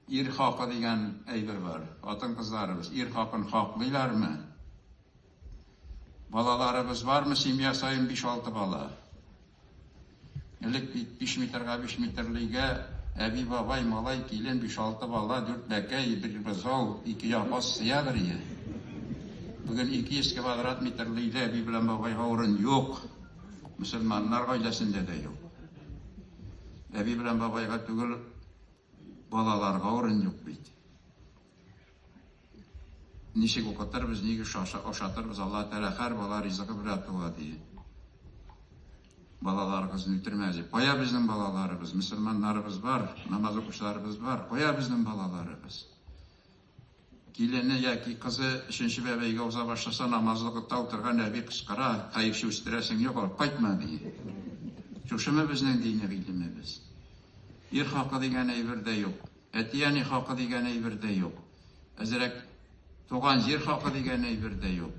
Ир хакы дигән әйбер бар. Хатын-кызларыбыз ир хакын хаклыйлармы? Балаларыбыз бармы? Семья саен биш-алты бала. Элек бит биш метрга биш метрлыйгә әби, бабай, малай, килен, биш-алты бала, дүрт бәкәй, бер бозау, ике япас сыядыр иде. Бүген 200 квадрат метрлыйда әби белән бабайга урын юк. Мөселманнар гаиләсендә дә юк. Әби белән бабайга түгел, Балаларга урын юк бит. Ничек укытырбыз, нигә ашатырбыз, Аллаһ Тәгалә һәр бала ризыгы белән туа ди. Балаларыгызны үтермәгез ди. Кая безнең балаларыбыз? Мөселманнарыбыз бар, намаз укучыларыбыз бар. Кая безнең балаларыбыз? Килене яки кызы өченче бәбәйгә уза башласа, намазлык утта утырган әби кычкыра, Хәерче үстерәсең юк, алып кайтма, ди. Шушымы безнең дини гыйлемебез? Ир хакы дигән әйбер дә юк. Әти-әни хакы дигән әйбер дә юк. Әзрәк туган җир хакы дигән әйбер дә юк.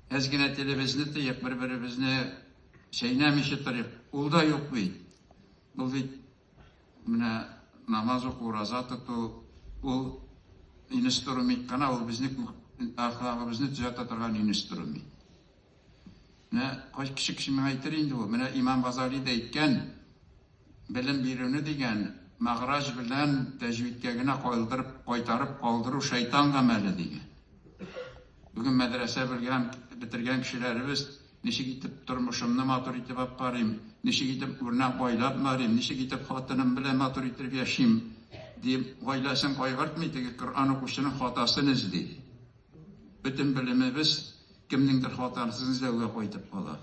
Әз генә телебезне тыйк, бер-беребезне чәйнәмичә торыйк. Ул да юк бит. Ул бит Менә намаз уку, ураза тоту, ул инструмент кына, ул безнең әхлагыбызны төзәтә торган инструмент. Менә кайс кеше кеше миңа әйтер инде ул. Менә Имам Газали дә әйткән, белем бирүне дигән мәгъраҗ белән тәҗвидкә генә калдырып, кайтарып калдыру шайтан гамәле дигән. Бүген мәдрәсә белгән, бетергән кешеләребез Ничек итеп тормышымны матур итеп аткарыйм, ничек итеп үрнәк гаилә бнарыйм, ничек итеп хатыным белән матур итеп яшим, дип, гаиләсен кайгыртмый, теге Коръән укучының хатасын эзли. Бөтен белемебез кемнеңдер хатасын эзләүгә кайтып кала.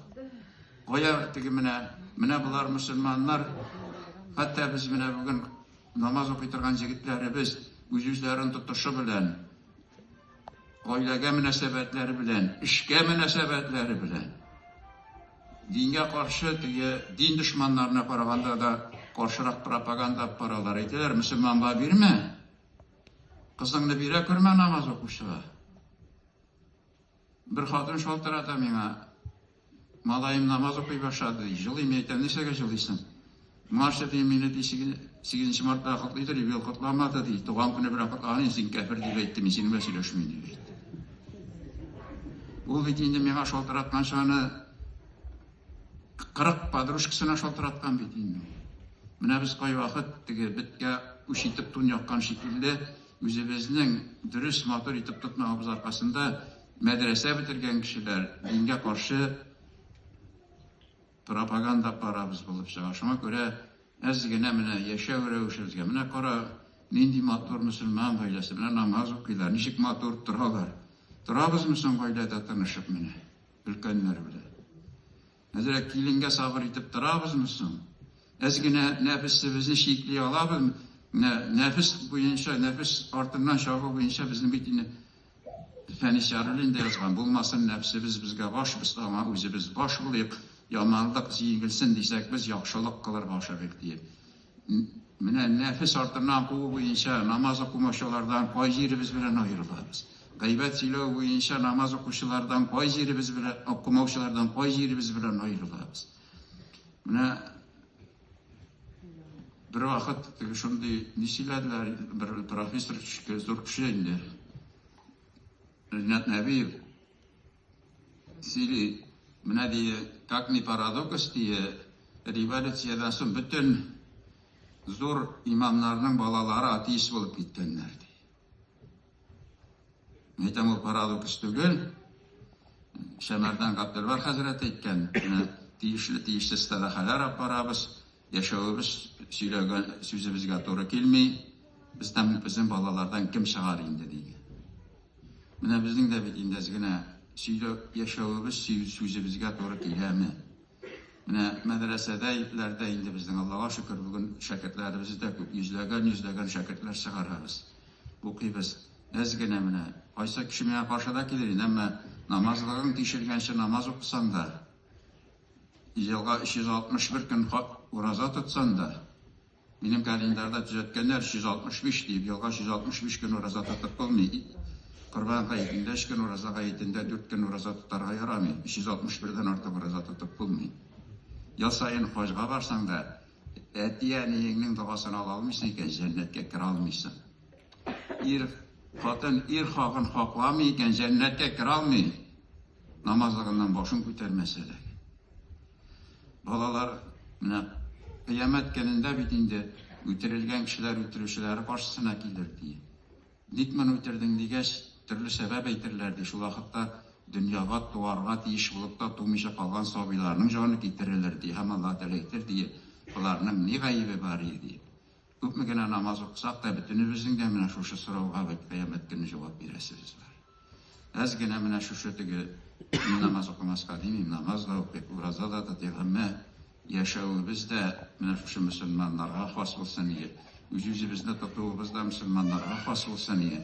Кая теге менә, менә болар мөселманнар, хәтта без менә бүген намаз укый торган җегетләребез үз-үзләрен тотышы белән, Гаиләгә мөнәсәбәтләре белән, эшкә мөнәсәбәтләре белән, дингә каршы теге дин дошманнарына караганда да каршырак пропаганда алып баралар. Әйтәләр, мөселманга бирмә, кызыңны бирә күрмә намаз укучыга. Бер хатын шалтырата миңа, Малаем намаз укый башлады, ди. Җылыйм, мин әйтәм, Нишләгә җылыйсың? Моңарчы, дим, мине, ди, сигезенче мартта котлыйдыр, юбилей котламады, ди. Туган көне белән котлаган идем, син кяфер дип әйтте, мин синең белән сөйләшмим, дип әйтте. Ул бит инде миңа шалтыратканчы аны кырык подружкасына шалтыраткан бит инде. Менә без кайвакыт теге беткә үч итеп тун яккан шикелле, үзебезнең дөрес, матур итеп тотмавыбыз аркасында Мәдрәсә бетергән кешеләр дингә каршы пропаганда карабыз булып чыга. Шуңа күрә әз генә менә яшәү рәвешебезгә, менә кара, нинди матур мөселман гаиләсе, менә намаз укыйлар, ничек матур торалар. Торабызмы соң гаиләдә тынышып менә, өлкәннәр белән? Әзрәк киленгә сабыр итеп торабызмы соң? Әз генә нәфесебезне чикли алабызмы? Менә нәфес буенча, нәфес артыннан чабу буенча безнең бит инде Фәнис Яруллин да язган, Булмасын нәфсебез безгә баш, без аңа үзебез баш булыйк, яманлык җиңелсен дисәк, без яхшылык кылырга ашыгыйк, диеп. Менә нәфес артыннан куу буенча намаз укымаучылардан кай җиребез белән аерылабыз? Гайбәт сөйләү буенча намаз укучылардан кай җиребез белән, укымаучылардан кай җиребез белән аерылабыз? Менә бервакыт теге шундый ни сөйләделәр, бер профессор, зур кеше инде, Ринат Нәбиев, Сөйли, менә дие, как ни парадокс дие, революциядән соң бөтен зур имамнарның балалары атеист булып киткәннәр ди. Мин әйтәм, ул парадокс түгел. Шәмәрдән Габделвар хәзрәт әйткән, менә тиешле тиешле стадахалар алып барабыз, Яшәвебез сөйләгән сүзебезгә туры килми, бездән безнең балалардан кем чыгар инде, диде. Менә безнең дә бит инде әз генә сөйлә яшәвебез сүзебезгә туры киләме? Менә мәдрәсәдә ипләрдә инде безнең Аллага шөкер бүген шәкертләребез дә күп, йөзләгән йөзләгән шәкертләр чыгарабыз, укыйбыз. Әз генә менә кайсы кеше миңа каршы да килер инде, әмма намазлыгың тишелгәнче намаз укысаң да, Елга 361 көн ураза тотсам да, минем календарьда төзәткәннәр, 365 диеп, елга 365 көн ураза тотып булмый. Корбан гаетен бәш көн ураза гаетендә дүрт көн ураза тотарга ярамый, 361 дән артык ураза тотып булмый. Ел саен хаҗга барсаң да, әти-әниеңнең догасын ала алмыйсың икән, җәннәткә керә алмыйсың. Ир, хатын ир хакын хакламый икән, җәннәткә керә алмый. Намазлыгыннан башын күтәрмәсә дә. Балалар менә кыямәт көнендә бит инде үтерелгән кешеләр үтерүчеләре каршысына килер, ди. Ник моны үтердең дигәч, төрле сәбәп әйтерләр, ди. Шул вакытта дөньяга туарга тиеш булып та тумыйча калган сабыйларның җаны китерелер, ди. Һәм Аллаһ Тәгалә әйтер, ди, Боларның ни гаебе бар иде, диеп. Күпме генә намаз укысак та, бөтенебезнең дә менә шушы сорауга бит кыямәт көне җавап бирәсебез бар. Әз генә менә шушы теге мин намаз укымаска димим, намаз да укыйк, ураза да тотыйк, әмма яшәвебез дә менә шушы мөселманнарга хас булсын ие, үз-үзебезне тотуыбыз да мөселманнарга хас булсын ие.